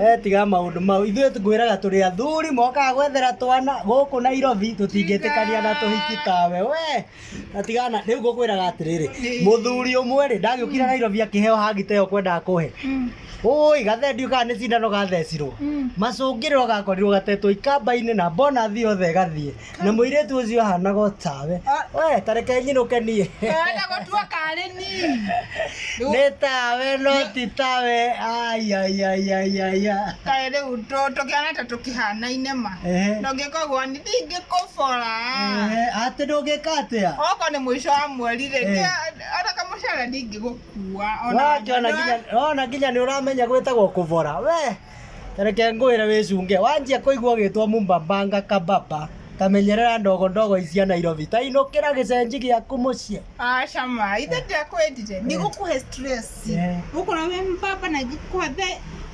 Eh, tiga maũndũ mau ithuĩ ngwĩraga tũrĩ athuri mokaga gwethera twana gũkũ nairobi tũtingĩtĩkania na tũhiki tawe we na tigana rĩu ngũkwĩraga atĩrĩrĩ mũthuri ũmwe rĩ ndagĩũkire nairobi akĩheo hangita ĩyo kwendaga kũhe ũĩ gathendio kana nĩ cindano gathecirwo macũngĩrĩro gakorirwo gatetwo ikamba-inĩ na bonathi yothe ĩgathiĩ na muiritu ucio ahanaga otawe we tareke nyinuke nie Wenda gũtua karĩ ni. ni tawe no ti tawe ayayayayaya Kaĩ rĩu tũ- tũkĩhana ta tũkĩhanaine ma. Ehe. Na ũngĩka ũguo ni ndingĩkũbora. atä ndå ngä ka atä a Okorwo nĩ mũico wa mweri rĩ, Eh. nĩ- ona kamũcara ndingĩgũkua. Ona- wona nginya nä å ramenya gwä tagwo kå bora we Tareke ngwĩre wĩcunge, wanjia kũigua ũgĩtwo Mumbambanga Kababa, ta menyerera ndogo ndogo ici cia Nairobi, ta inũkĩra gĩcenji gĩaku mũciĩ. Aca ma, ithe ndiakwendire, ndigũkũhe stress. Ũkũra wĩ mbaba na ngĩkũhe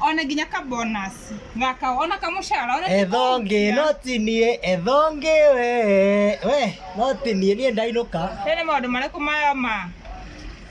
ona nginya ka bonus gaka ona kamũcara ona ethonge no ti niĩ ethonge we we no ti niĩ niĩ ndainũka. Nĩ maũndũ marĩkũ maya ma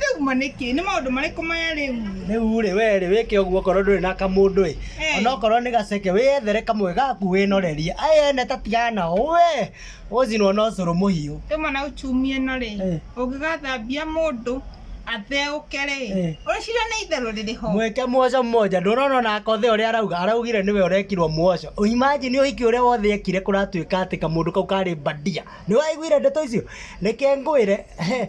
rĩu ma nĩkĩ nĩ maũndũ marĩkũ maya rĩu rĩu rĩ we rĩ wĩke ũguo okorwo ndũrĩ na kamũndũ ĩ Eh. onokorwo nĩ gaceke wĩyethere kamwe gaku wĩnorerie aya ene tatigana nao we ũcinwo na ũcũrũ mũhiũ ĩmwe na uchumi ĩno rĩ Eh. ũngĩgathambia mũndũ atheũke rĩ Eh. ũrĩcira nĩ itherũ rĩrĩ ho mwĩke muoco mmoja ndũrona ona akothe ũrĩa arauga araugire nĩwe ũrekirwo muoco imagine ũhiki ũrĩa wothe ekire kũratuĩka atĩ kamũndũ kau karĩ bandia nĩ waiguire ndeto icio reke ngwĩre he,